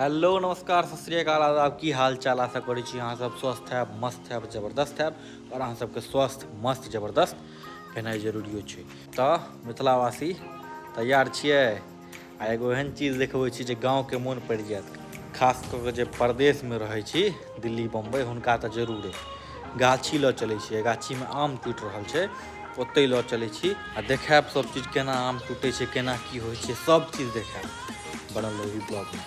Hello नमस्कार सत श्रीकाल आदाब की हाल चाल आशा करै छी अहाँ सब स्वस्थ हैब मस्त हैब जबरदस्त हैब और अहाँ सबके स्वस्थ मस्त जबरदस्त भेनाइ जरूरियो छै तऽ मिथिलावासी तैयार छियै आ एगो एहन चीज देखबै छी जे गाँवके मोन पड़ि जायत खास कऽ कऽ जे परदेशमे रहै छी दिल्ली बम्बइ हुनका तऽ जरूरे गाछी लऽ चलै छियै गाछीमे आम टूटि रहल छै ओतहि लऽ चलै छी आ देखायब सभचीज केना आम टूटै छै केना की होइ छै सभचीज देखायब बनल रही ब्लॉगमे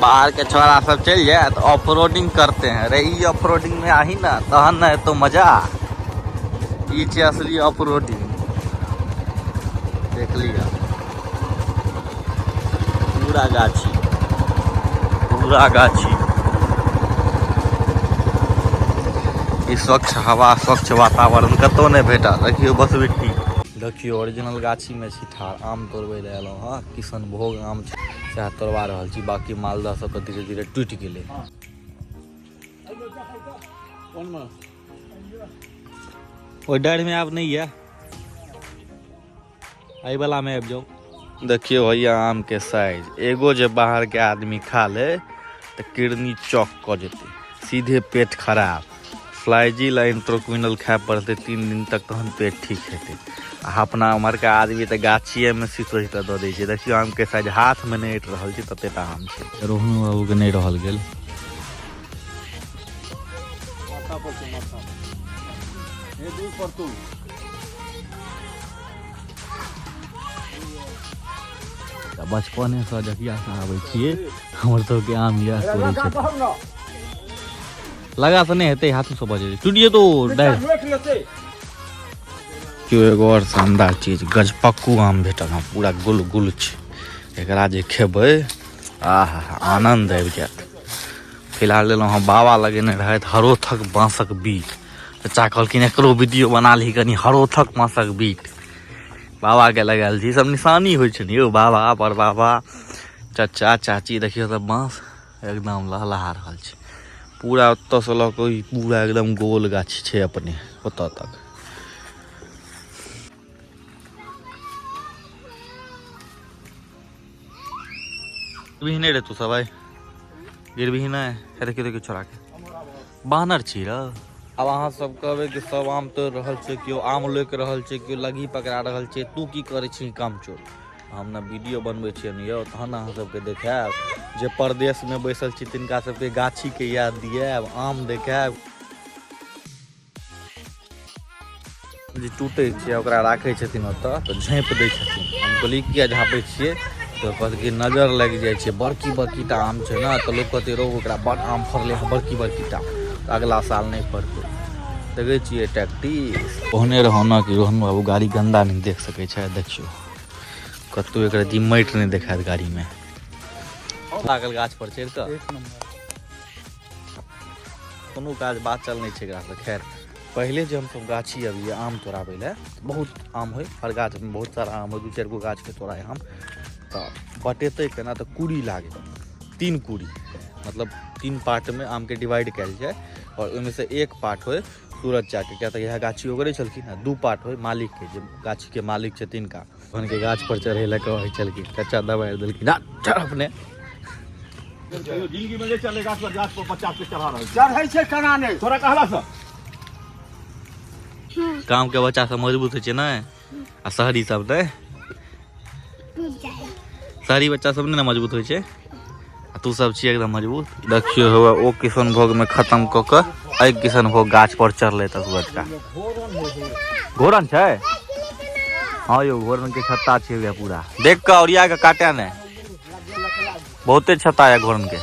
बाहर के छोरा सब चल जाए तो ऑफ रोडिंग करते हैं अरे ई ऑफ रोडिंग में आही ना तहन ना तो मजा ई छै असली ऑफ रोडिंग देख लिया पूरा गाछी पूरा गाछी ई स्वच्छ हवा स्वच्छ वातावरण कतौ नहि भेटा देखियौ बस बिट्टी देखियौ ओरिजिनल गाछीमे छी ठाढ़ आम तोड़बै लए एलहुँ हँ किशनभोग आम छै सएह तोड़वा रहल छी बाकी मालदह सब तऽ धीरे धीरे टूटि गेलै ओहि डाढ़िमे आब नहि यऽ एहिवलामे आबि जाउ देखियो भैया आम के साइज एगो जे बाहर के आदमी खा ले तो किडनी चौक क जेते सीधे पेट खराब फ्लाइजिल आ इंट्रोक्विनल खाए पड़तै तीन दिन तक तहन पेट ठीक हेतै आ अपना उम्हरका आदमी तऽ गाछिएमे सीत सीत दऽ दै छै देखियौ आमके साइज हाथमे नहि अटि रहल छै ततेटा आम छै रोहन बाबूके नहि रहल गेल तऽ बचपनेसँ जहियासँ आबै छियै हमर सभके आम इएह करै छै लगा से नहीं हेते हाथ से बजे टूटिए तो क्यों एगो और शानदार चीज गजपक्कू आम भेटल हँ पूरा गुल गुल छै एकरा जे खेबै आह आनंद आबि जायत फिलहाल लेलहुँ हँ बाबा लगेने रहथि हरोथक बाँसक बीट चाचा कहलखिन एकरो वीडियो बना ली कनी हरोथक बाँसक बीट बाबाके लगायल छै ईसभ निशानी होइ छै ने यौ बाबा बड़ बाबा चाचा चाची देखियौ तऽ बाँस एकदम लहलहा रहल छै पूरा ओतऽसँ लऽ कऽ पूरा एकदम गोल गाछ छै अपने ओतऽ तक गिरबिही नहि रे तू सब आइ गिरबिही नहि हे देखियौ देखियौ छोड़ाके बानर छी र आब अहाँ सब कहबै कि सब आम तोड़ि रहल छै केओ आम लोकि रहल छै केओ लगी पकड़ा रहल छै तू की करै छी काम चोर हम ने वीडियो बनबै छियन यौ तहन अहाँ सबके देखायब जे परदेशमे बैसल छी तिनका सबके गाछीके याद दियाएब आम देखायब जे टूटै छै ओकरा राखै छथिन ओतऽ तऽ झाँपि दै छथिन हम कहलियै किया झाँपै छियै तऽ कहत कि नजर लागि जाइ छै बड़की बड़की टा आम छै ने तऽ लोक कहतै रौ ओकरा बड़ आम फड़लै हँ बड़की बड़की टा तऽ अगिला साल नहि फड़तै देखै छियै टैक्टिस ओहने रहौना कि रोहन बाबू गाड़ी गन्दा नहि देख सकै छै देखियौ कतहु एकरा जी माटि नहि देखायत गाड़ीमे लागल गाछ पर चढ़ि कऽ एक नंबर कोनो काज बात चल नहि छै एकरा से खैर पहिले जे हमसब गाछी अबियै आम तोड़ाबै लए तऽ बहुत आम होइ हर गाछमे बहुत सारा आम होइ दू चारि गो गाछके तोड़ाइ हम तऽ बटेतै केना तऽ कूड़ी लागै तीन कूड़ी मतलब तीन पार्टमे आमके डिवाइड कयल जाय आओर ओहिमे से एक पार्ट होइ सूरज चाके किया तऽ इएह गाछी ओगरै छलखिन आ दू पार्ट होइ मालिकके जे गाछीके मालिक छै तिनका भगवानके गाछपर चढ़ै लए कहै छलखिन कच्चा दबाइ देलखिन आ चढ़ अपने जिंदगी में ले चले गाछ पर गाछ पर बच्चा के चढ़ा रहे चढ़े से कना नहीं तोरा कहला से गाँवके बच्चासभ मजबूत होइ छै ने आ शहरी सब ने शहरी बच्चा सब ने मजबूत होइ छै आ तू सब छी एकदम मजबूत देखियो हुआ ओ किशन भोग में खत्म क के अइ किशन भोग गाछ पर चढ़ले तक बच्चा घोरन छै हाँ यो घोरन के छत्ता छै पूरा देख के औरिया के काटे ने बहुते छता है घोरन के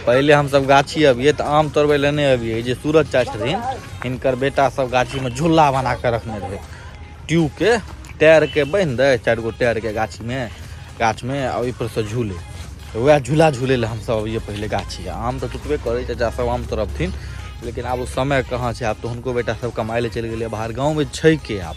पहले हम सब गाछी अबिए तो आम तोड़बे लेने अबिए जे सूरज चाय छथिन हिनकर बेटा सब गाछी में झूला बना के रखने रहे ट्यूब के टायर के बन दे चार गो टायर के गाछी में गाछ में और पर से झूले तो वह झूला झूले ले हम सब अबिए पहले गाछी आम तो टूटबे करे चाचा सब आम तोड़बथिन लेकिन आब समय कहाँ छै आब तो हुनको बेटा सब कमाए ले चलि गेलै बाहर गाँवमे छै के आब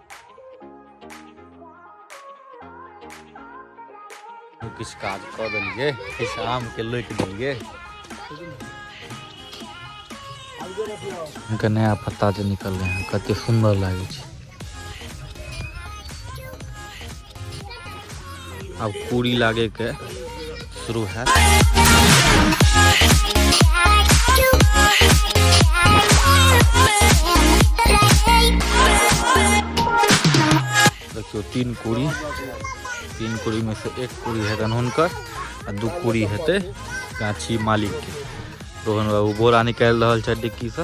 किछु काज कऽ देलियै किछु आमके लोटि देलियै इनका नया पत्ता जे निकललै हँ कतेक सुन्दर लागै छै अब कूड़ी लागे के शुरू है देखियो तीन कूड़ी तीन कूड़ी में से एक कूड़ी है हुनकर आ दू कूड़ी हेतै गाछी मालिक के रोहन बाबू बोरा निकालि रहल छथि डिक्की से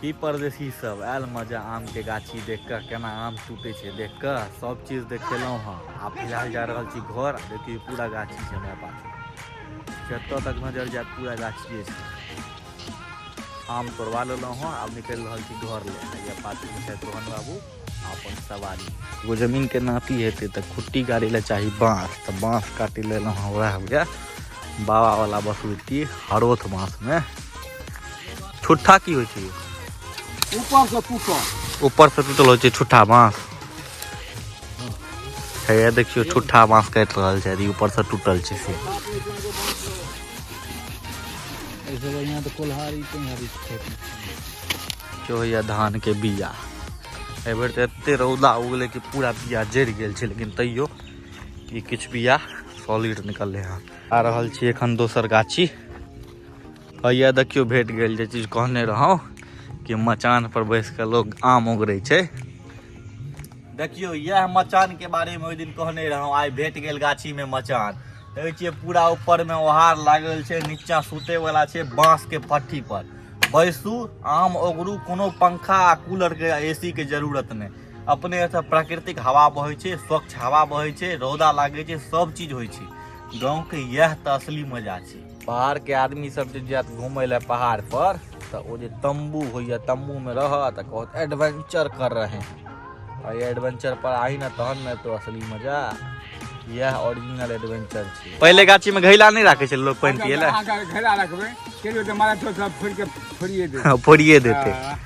की परदेशी सब आयल मजा आम के गाछी देख कऽ केना आम टूटे छै देख कऽ सब चीज देखेलहुँ हँ आ फिलहाल जा रहल छी घर आ देखियौ पूरा गाछी छै हमरा पास जतऽ तक नजर जायत पूरा गाछिए छै आम तोड़वा लेलहुँ हँ आब निकलि रहल छी घर ले आ यऽ पाछू छै तोहन बाबू अपन सवारी एगो जमीनके नापी हेतै तऽ खुट्टी गाड़ी लए चाही बाँस तऽ बाँस काटि लेलहुँ हँ उएह हुए बाबावला बसुती हरोथ बाँसमे ठुट्ठा की होइ छै ऊपर से टूटल ऊपर से टूटल होइ छै ठुट्ठा बाँस हैया देखियो ठुट्ठा बाँस काटि रहल छै यदि ऊपर से टूटल छै से ऐसे बढ़िया तो कोल्हारी तुम्हारी खेती जो होइया धानके बीया एहि बेर तऽ एते रौदा उगलै कि पूरा बिया जरि गेल छै लेकिन तैयो कि किछु बिया सॉलिड निकललै हँ आ रहल छी एखन दोसर गाछी हैया देखियो भेट गेल जे चीज कहने रहौं कि मचान पर बैस कऽ लोग आम उगड़ै छै देखियो यह मचान के बारे में ओहि दिन कहने रहौं आइ भेट गेल गाछी में मचान देखै छियै पूरा ऊपर में ओहार लागल छै नीचा सुते वाला छै बांस के पट्टी पर बैसू आम ओगरू कोनो पंखा आ कूलरके ए सीके जरूरत नहि अपने एतऽ प्राकृतिक हवा बहै छै स्वच्छ हवा बहै छै रौदा लागै छै सब चीज होइ छै गाँवके इएह तऽ असली मजा छै बाहरके आदमी सब जे जायत घूमय लए पहाड़ पर तऽ ओ जे तम्बू होइए तम्बूमे रहत आ कहत एडवेंचर कर रहे हैं और ये एडवेंचर पर आई ना तहन ना तो असली मजा यह ओरिजिनल एडवेंचर छी पहले गाछी में घैला नहीं राखे छे लोग पानी पिए ला अगर घेरा रखबे चलियो तो मारा तो सब फोड़ के फोड़िए दे हाँ, फोड़िए देते हाँ।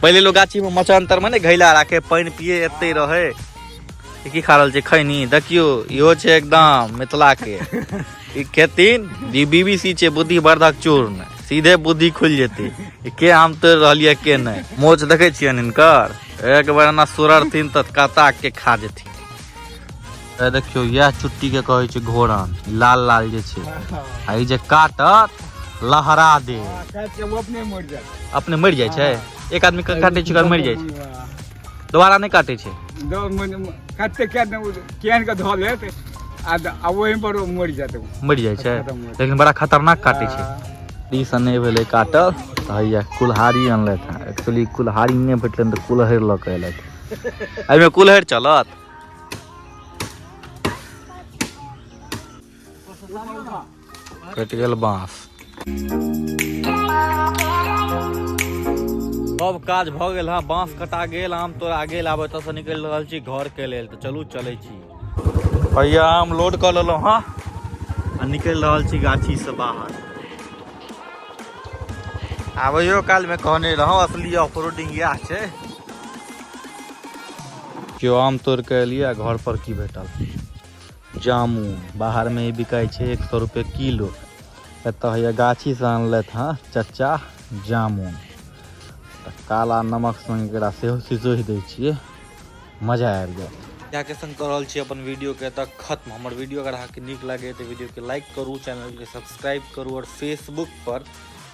पहले लोग गाछी में मचांतर में ने घैला राखे पानी पिए एते रहे ई की खा रहल छै खैनी देखियो इहो छै एकदम मिथिला के ई खेतीन ई बीबीसी छै बुद्धि वर्धक चूर्ण सीधे बुद्धि खुलि जेतै ई के आम तोड़ि रहल यऽ के नहि मोच देखै छियनि हिनकर एक बेर एना सुररथिन तऽ कता के खा जेथिन ए देखियौ इएह चुट्टी के कहै छै घोरन लाल लाल जे छै आ ई जे काटत लहरा दे अपने मरि जाइ छै एक आदमी के काटै छै ओकर मरि जाइ छै दोबारा नहि काटै छै कते केहन के धऽ लेत आ ओहि पर मरि जात मरि जाइ छै लेकिन बड़ा खतरनाक काटै छै ई सब नहि भेलै काटल तऽ हैया कुल्हाड़ी अनलथि हँ एक्चुअली कुल्हाड़ी नहि भेटलनि तऽ कुल्हरि लऽ कऽ अयलथि एहिमे कुल्हरि चलत कटि गेल बाँस सब काज भऽ गेल हँ बाँस कटा गेल आम तोड़ा गेल आब एतऽसँ निकलि रहल छी घरके लेल तऽ चलू चलै छी भैया आम लोड कऽ लेलहुँ हँ आ निकलि रहल छी गाछीसँ बाहर आबैयो कालमे कहने रहौं असली ऑफ रोडिंग इएह छै केओ आम तोड़ि कऽ एलियै आ घर पर की भेटल जामुन बाहरमे ई बिकाइ छै एक सए रुपये किलो एतऽ होइए गाछीसँ अनलथि हँ चचा जामुन तऽ काला नमक सङ्गे एकरा सेहो सिसोहि दै छियै मजा आबि जायत जाके संग कऽ रहल छी अपन वीडियोके एतऽ खत्म हमर वीडियो अगर अहाँके नीक लागैए तऽ वीडियोके लाइक करू चैनलके सब्सक्राइब करू आओर फेसबुकपर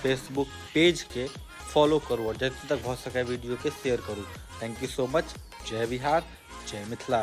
फेसबुक पेजके फॉलो करू आओर जतऽ तक भऽ सकै वीडियोके शेयर करू थैंक यू सो मच जय बिहार जय मिथिला